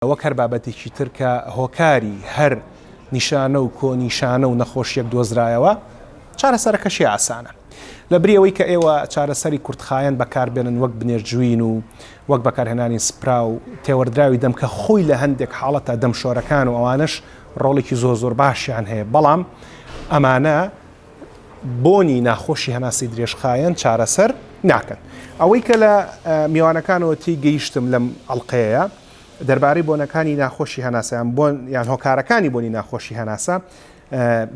وەک هەر بابەتێکی تر کە هۆکاری هەر نیشانە و کۆنیشانە و نەخۆشیەک دۆزرایەوە، چارەسەرەکەشی ئاسانە. لە بری ئەوەی کە ئێوە چارەسەری کورتخایەن بەکار بێنن وەک بنێرجوین و وەک بەکارهێنانی سپرا و تێوەردراوی دەم کە خۆی لە هەندێک حاڵەتە دەم شۆرەکان و ئەوانەش ڕۆڵێکی زۆر زۆر باشیان هەیە بەڵام ئەمانە بۆنی ناخۆشی هەناسەی درێژخایەن چارەسەر ناکەن. ئەوەی کە لە میوانەکانەوە تێی گەیشتم لەم ئەڵقەیە، دەربارەی بۆنەکانی ناخۆشی هەناسە یان بۆن یان هۆکارەکانی بۆنی ناخۆشی هەناسە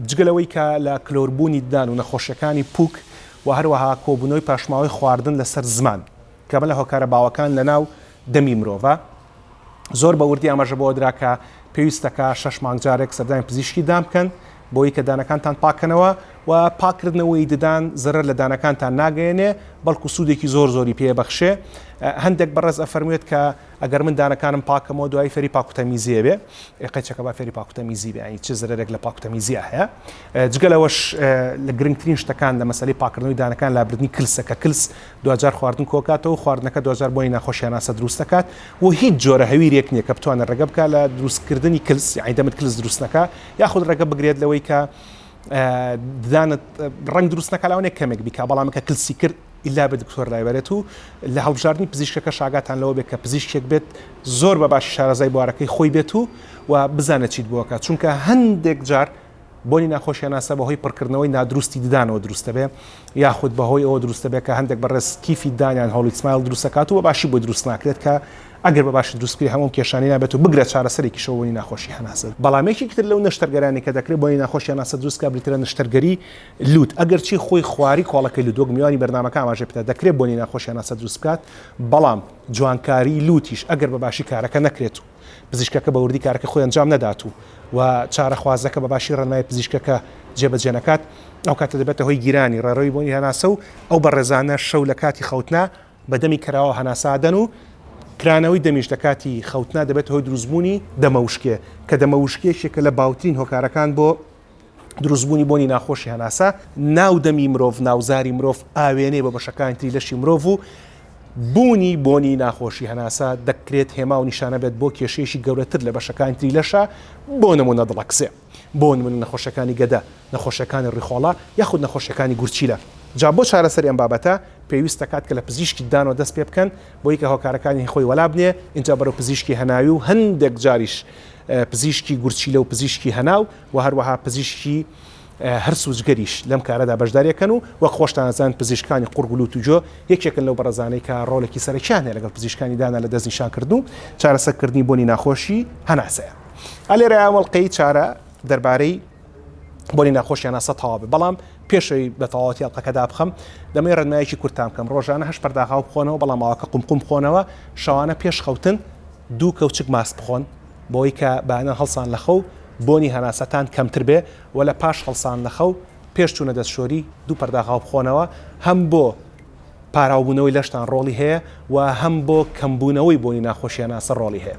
جگە لەوەی کە لە کلۆربوونی ددان و نەخۆشیەکانی پوک و هەروەها کۆبوونەوەی پاشماوەی خواردن لەسەر زمان کە بە لە هۆکارە باوەکان لە ناو دەمی مرۆڤە زۆر بە وردی ئاماژە بەوە درا کە پێویستەکە شەش مانگ جارێک سەردانی پزیشکی دام بکەن بۆی کە دانەکانتان پاککەنەوە و پاککردنەوەی ددان زەرەر لە دانەکانتان ناگەیەنێ بەڵکو سوودێکی زۆر زۆری پێ بەخشێ هەندێک بەڕێز ئەفەرموێت کە ئەگەر من دانەکانم پاکەمەوە دوای فێری پاکوتەمیزیێ بێ قەچەکە با فێری پاکوتەمیزی بێ چ زەرێک لە پاکوتەمیزیە هەیە جگەلەوەش لە گرنگترین شتەکان لە مەسلی پاکردنەوەی دانەکان لابردنی کلسە کە کلس دوجار خواردن کۆکاتەوە خواردنەکە دوجار بۆی ناخۆشیاناسە دروستەکات و هیچ جۆرە هەویرێک نییە کە بتوانە ڕێگە بکە لە دروستکردنی کلس عیدەمت کلس دروستەکە یاخود ڕێگە بگرێت لەوەی کە ددانت ڕنگ دروست نەکە لاوانێک کەمێک بیکا بەڵامەکە کلسی کرد ئیلا بە دکتۆر لایبەرێت و لە هەڵبژاردننی پزیشکەکە شاگاتان لەوە بێت کە پزیشکێک بێت زۆر بە باشی شارەزای بوارەکەی خۆی بێت و و بزانە چیت بووەکە چونکە هەندێک جار بۆنی ناخۆشیانناسە بەهۆی پڕکردنەوەی نادروستی ددانەوە دروستە بێ یاخود بەهۆی ئەوە دروستە بێت کە هەندێک بەڕێز کیفی دانیان هەڵیسمایل دروستەکات و بە باشی بۆ دروست ناکرێت کە ئەگەر بە باشی دروست بکرێت هەموو ئەم کێشانەی نابێت و بگرە چارەسەرێکیشە بۆ بۆنی ناخۆشی هەناسە. بەڵام یەکێکی تر لەو نەشتەرگەرانەی کە دەکرێت بۆنی ناخۆشی هەناسە دروست بکات بریتیە لە نەشتەرگەری لووت ئەگەرچی خۆی خواریی کۆڵەکەی لووت وەک میوانی بەرنامەکە ئاماژەی پێدا دەکرێت بۆنی ناخۆشی هەناسە دروست بکات بەڵام جوانکاریی لووتیش ئەگەر بە باشی کارەکە نەکرێت و پزیشکەکە بە وردی کارەکەی خۆی ئەنجام نەدات و و چارەخوازەکە بە باشی ڕێنمایی پزیشکەکە جێبەجێ نەکات ئەو کاتە دەبێتە هۆی گیرانی ڕێڕەوی بۆنی هەناسە و ئەو بەڕێزانە شەو لە کاتی خەوتنا بە دەمی کەراوە هەناسە ئەدەن و کرانەوەی دەمیش لە کاتی خەوتنا دەبێتە هۆی دروستبوونی دەمەوشکێ، کە دەمەوشکێ یەکێکە لە باوترین هۆکارەکان بۆ دروستبوونی بۆنی ناخۆشی هەناسە، ناو دەمی مرۆڤ، ناوزاری مرۆڤ ئاوێنەیە بۆ بەشەکانی تری لەشی مرۆڤ و بوونی بۆنی ناخۆشی هەناسە دەکرێت هێما و نیشانە بێت بۆ کێشەیەکی گەورەتر لە بەشەکانی تری لەشە، بۆ نموونە دڵەکزێ. بۆ نمونە نەخۆشەکانی گەدە، نەخۆشەکانی ڕیخۆڵە یاخود نەخۆشەکانی گورچیلە. جا بۆ چارەسەری ئەم بابەتە پێویست دەکات کە لە پزیشکی ددانەوە دەست پێ بکەن بۆی کە هۆکارەکانی خۆی وەلا بنێ ئینجا بەرەو پزیشکی هەناوی و هەندێک جاریش پزیشکی گورچیلە و پزیشکی هەناو و هەروەها پزیشکی هەرس و جگەریش لەم کارەدا بەشداری ئەکەن و وەک خۆشتان ئەزانن پزیشکانی قوڕگ و لوت و گوێ یەکێکن لەو بەڕەزانەی کە ڕۆڵێکی سەرەکیان هەیە لەگەڵ پزیشکانی دانا لە دەست نیشان کردن و چارەسەر کردنی بۆنی ناخۆشی هەناسەیە. ئە لێرە ئەوەڵلقەی چارە دەربارەی بۆنی ناخۆشیان ناسە تەواوە بەڵام پێشەوەی بە تەواوەتی ئەڵلقەکەدا بخەم دەمەی ڕنایەکی کورتان بکەم ڕۆژانە هەش پەرداغا و بخۆنەوە بەڵام ماوەکە قمقم بخۆنەوە شەوانە پێش خەوتن دوو کەوچک ماس بخۆن بۆی کە بەانە هەڵسان لە خەو بۆنی هەناسەتان کەمتر بێ و لە پاش هەڵسان لە خەو پێش چوونە دەستشۆری دوو پەرداغا و بخۆنەوە هەم بۆ پاراوبوونەوەی لەشتان ڕۆڵی هەیە و هەم بۆ کەمبوونەوەی بۆنی ناخۆشیانە سەر ڕۆڵی هەیە.